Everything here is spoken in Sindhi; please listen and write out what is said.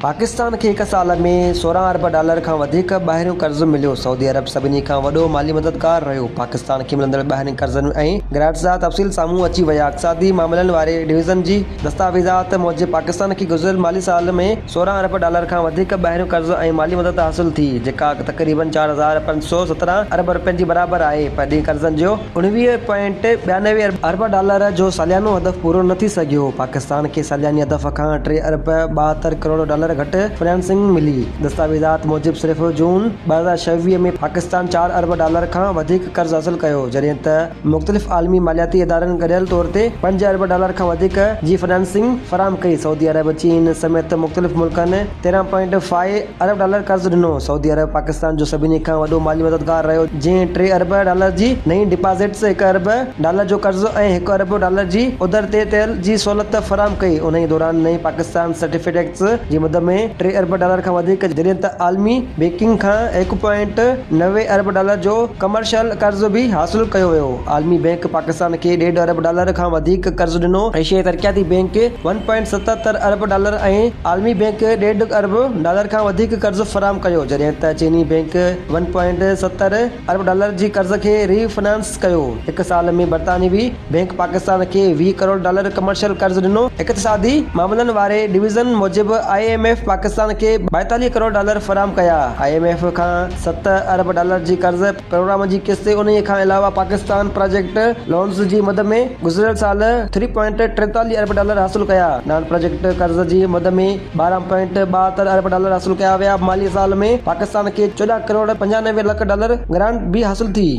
پاڪستان کي هڪ سال ۾ سورهن ارب ڊالر کان وڌيڪ ٻاهريون قرض مليو، سعودي عرب سڀني کان وڏو مالي مددگار رهيو، پاڪستان کي ملندڙ ٻاهرين قرضن ۽ گرانٽس جا تفصيل سامهون اچي ويا، اقتصادي معاملن واري ڊويزن جي دستاويزات موجب پاڪستان کي گذريل مالي سال ۾ سورهن ارب ڊالر کان وڌيڪ ٻاهريون قرض ۽ مالي مدد حاصل ٿي، جيڪا تقريبن چار هزار پنج سؤ سترهن ارب رپين جي برابر آهي، پرڏيهي قرضن جو. اڻويهه پوائنٽ ٻيانوي ارب ڊالر جو ساليانو هدف پورو نه ٿي سگهيو، پاڪستان کي سالياني هدف کان ٽي ارب ٻاهتر ڪروڙ ڊالر گهٽ فنانسنگ ملي، دستاويزات موجب صرف جون ٻه هزار ڇويهه ۾ پاڪستان چار ارب ڊالر کان وڌيڪ قرض حاصل ڪيو، جڏهن ته مختلف عالمي مالياتي ادارن گڏيل طور تي پنج ارب ڊالر کان وڌيڪ جي فنانسنگ فراهم ڪئي، سعودي عرب، چين سميت مختلف ملڪن تيرهن پوائنٽ فائي. ارب ڊالر قرض ڏنو. سعودي عرب پاڪستان جو سڀني کان وڏو مالي مددگار رهيو، جنهن ٽي ارب ڊالر جي نئين ڊپازٽس، هڪ ارب ڊالر جو قرض ۽ هڪ ارب ڊالر جي اوڌر تي تيل جي سهولت فراهم ڪئي. انهيء دوران نئين پاڪستان سرٽيفڪيٽس جي مد ۾ ٽي ارب ڊالر کان وڌيڪ جڏهن ته عالمي بيڪنگ کان هڪ پوائنٽ نوي ارب ڊالر جو ڪمرشل قرض به حاصل ڪيو ويو. عالمي بينڪ پاڪستان کي ڏيڍ ارب ڊالر کان وڌيڪ قرض ڏنو، ايشيائي ترقياتي بينڪ ڪي ون پوائنٽ ستهتر ارب ڊالر ۽ عالمي بينڪ ڏيڍ ارب ڊالر کان وڌيڪ قرض فراهم ڪيو، جڏهن ته چيني بينڪ ون پوائنٽ ستر ارب ڊالر جي قرض کي ري فنانس ڪيو. هڪ سال ۾ برطانوي بينڪ پاڪستان کي ويهه ڪروڙ ڊالر ڪمرشل قرض ڏنو. اقتصادي معاملن واري ڊويزن موجب آء ايم ايف پاڪستان کي ٻائيتاليهه ڪروڙ ڊالر فراهم ڪيا، آء ايم ايف کان ست ارب ڊالر جي قرض، پروگرام جي قسط انهيء کان علاوه پاڪستان پراجيڪٽ لونز جي مد ۾ گذريل سال ٽي پوائنٽ ٽيتاليهه ارب ڊالر حاصل ڪيا، نان پراجيڪٽ قرض جي مد ۾ ٻارهن پوائنٽ ٻاهتر ارب ڊالر حاصل ڪيا ويا، مالي سال ۾ پاڪستان کي چوڏهن ڪروڙ پنجانوي لک ڊالر گرانٽ به حاصل ٿي.